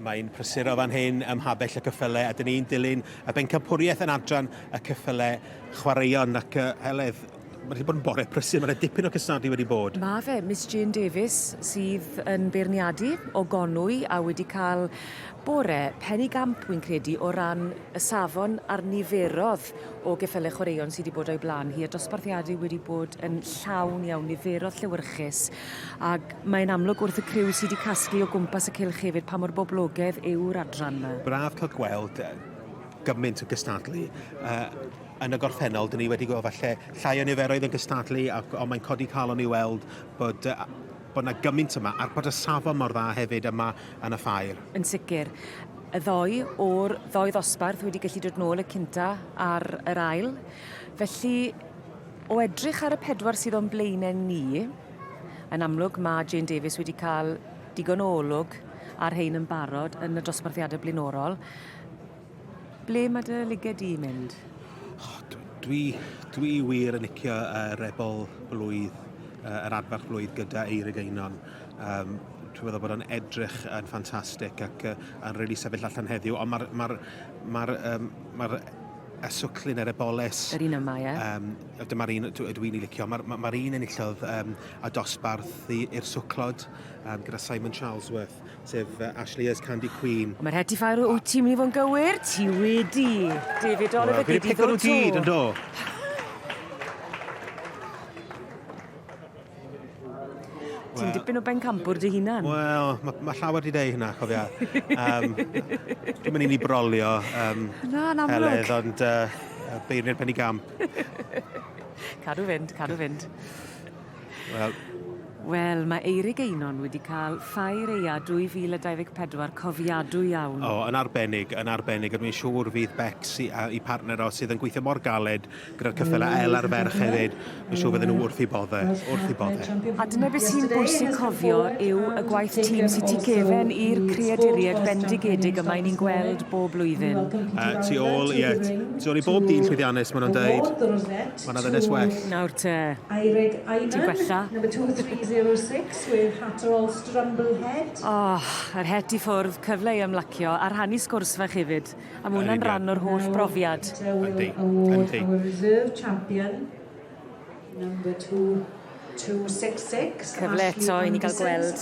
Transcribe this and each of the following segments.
Mae'n prysuro fan hyn ym mhabell y cyffyle a dyn ni'n dilyn y bencampwriaeth yn adran y cyffyle chwaraeon ac uh, Heledd, mae wedi bod yn bore prysur, mae yna dipyn o cystadlu wedi bod. Mae fe, Miss Jane Davies sydd yn beirniadu o Gonwy a wedi cael bore pen i gamp wy'n credu o ran y safon a'r niferodd o geffyle chwaraeon sydd wedi bod o'i blaen hi a dosbarthiadau wedi bod yn llawn iawn, niferodd llewyrchus Ac mae'n amlwg wrth y criw sy 'di casglu o gwmpas y cylch hefyd pa mor boblogedd yw'r adran 'ma. Braf cael gweld gymaint yn cystadlu. Yn y gorffennol, dyn ni wedi gweld falle llai o niferoedd yn cystadlu, ond mae'n codi calon i weld bod bod 'na gymaint yma, a'r bod y safon mor dda hefyd yma yn y ffair. Yn sicr. Y ddou o'r ddou ddosbarth wedi gallu dod nôl y cynta' a'r yr ail. Felly, O edrych ar y pedwar sydd o'n blaenau ni, yn amlwg mae Jane Davies wedi cael digon o olwg ar rhain yn barod yn y dosbarthiadau blaenorol. Ble mae dy liged di mynd? Oh, dwi, dwi wir yn licio uh, rebel blwydd, uh, yr adfarch blwydd gyda Eirig Einon. Um, dwi'n meddwl bod o'n edrych yn ffantastig ac uh, yn rili really sefyll allan heddiw, ond mae'r ma ma um, ma a swclyn ar y boles. Yr un yma, ie? Um, dyma'r un ydw i'n ei licio. Mae'r ma, ma un enillodd um, a dosbarth i'r swclod um, gyda Simon Charlesworth, sef uh, Ashley as Candy Queen. Mae'r heti ffair o wyt ti'n mynd i fod yn gywir? Ti wedi. David Oliver well, gyd i ddod to. Gyd, ynddo. Ti'n dipyn o bencampwr dy hunan. Wel, mae ma llawer wedi dweud hynna, cofia. um, dwi'n mynd i ni brolio um, Na, yn amlwg. Heledd, ond uh, beirni'r penny gamp. cadw fynd, cadw fynd. Wel, Wel, mae Eirig Einon wedi cael ffair eia 2024 cofiadw iawn. O, yn arbennig, yn arbennig. Dwi'n siŵr fydd Bex i, i partner o sydd yn gweithio mor galed Gyda'r cyffel a el ar ferch hefyd, mae'n siŵr fydden nhw wrth i bodde, wrth i bodde. A dyna beth sy'n bwysig cofio yw y gwaith tîm sydd tu gefen i'r creaduried bendigedig yma i ni'n gweld bob blwyddyn. Uh, tu ôl, ie, tu ôl i bob dyn llwyddiannus, maen nhw'n dweud, mae yna ddynes well. Nawr te, ti'n gwella. Oh, yr het i ffwrdd, cyfle i ymlacio a rhannu sgwrs fach hefyd. A mae hwnna'n rhan o'r holl brofiad. Yndi, yndi. Our reserve champion, number 2266. Cyfle eto i ni gael gweld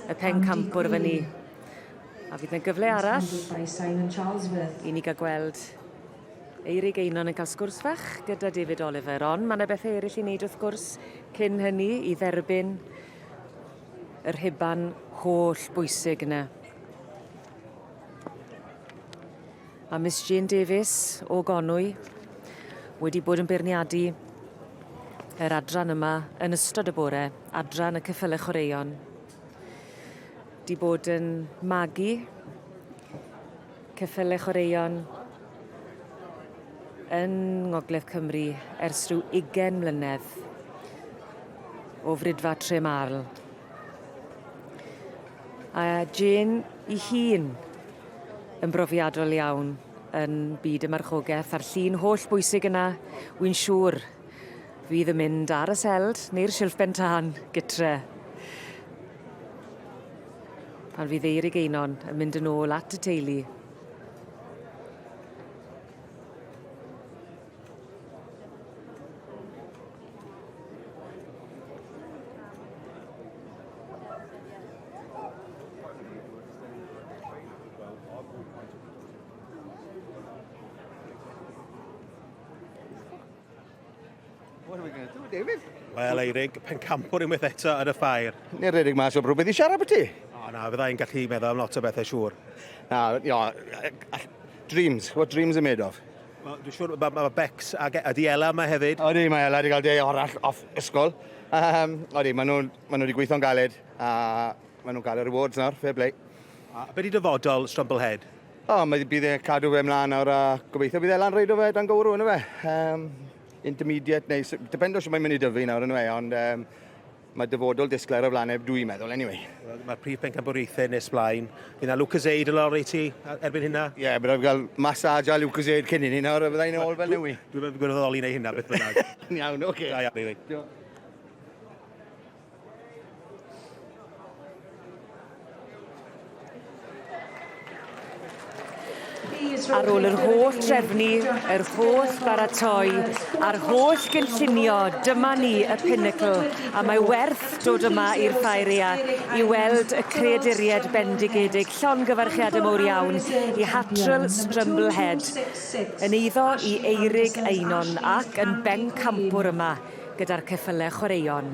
y pencampwr fyny. A fydd yna gyfle arall i ni gael gweld Eirig Einon yn cael sgwrs fach gyda David Oliver. Ond mae yna bethau eraill i wneud wrth gwrs cyn hynny i dderbyn yr rhuban holl bwysig yna. A Miss Jane Davies o Gonwy wedi bod yn beirniadu yr adran yma yn ystod y bore, adran y cyffyle chwaraeon. Di bod yn magu cyffyle chwaraeon yn Ngogledd Cymru ers rhyw ugen mlynedd o frydfa Tre Marl. A Jane 'i hun yn brofiadol iawn yn byd y marchogeth a'r llun holl bwysig yna wi'n siŵr fydd yn mynd ar y seld neu'r silff ben tân gytre. Pan fydd Eirig Einon yn mynd yn ôl at y teulu. David? Wel, Eirig, pencampwr unwaith eto yn y ffair. Neu'r Eirig mas o brwbeth i siarad beth ti? O, na, fydda i'n gallu meddwl am lot o bethau siŵr. Na, no, dreams, what dreams are made of. Dwi'n siŵr mae ma Bex a, a di Ela yma hefyd. Odi, mae Ela wedi cael deg arall off ysgol. Um, odi, maen nhw, ma nhw wedi gweithio'n galed a maen nhw'n cael yr awards nawr, fair play. A beth di dyfodol Strumblehead? O, oh, mae bydd e cadw fe mlaen nawr a gobeithio bydd Ela'n reid o fe dan gywrw yn y fe. Um, intermediate neu depend o sy'n mae'n mynd i dyfu nawr yn y fe, ond um, Mae dyfodol disglair ar flaen neb dw i'n meddwl, anyway. Wel, mae'r prif bencampwriaethau nes blaen. Fydd yna Lucozade yn lorri ti erbyn hynna? Ie, yeah, byddaf gael massage a Lucozade cyn hynny nawr, a byddai'n ôl fel newi. Dwi'n meddwl gwirfoddoli neu hynna, beth bynnag. Yn iawn, oce. Okay. Da iawn, Eili. Diolch. Ar ôl yr holl drefnu, yr holl baratoi, a'r holl gynllunio, dyma ni, y pinnacle, a mae werth dod yma i'r Ffaeria i weld y creaduried bendigedig, llongyfarchiadau mowr iawn i Hattrell Strumblehead, yn eiddo i Eirig Einon ac yn bencampwr yma gyda'r ceffylau chwaraeon.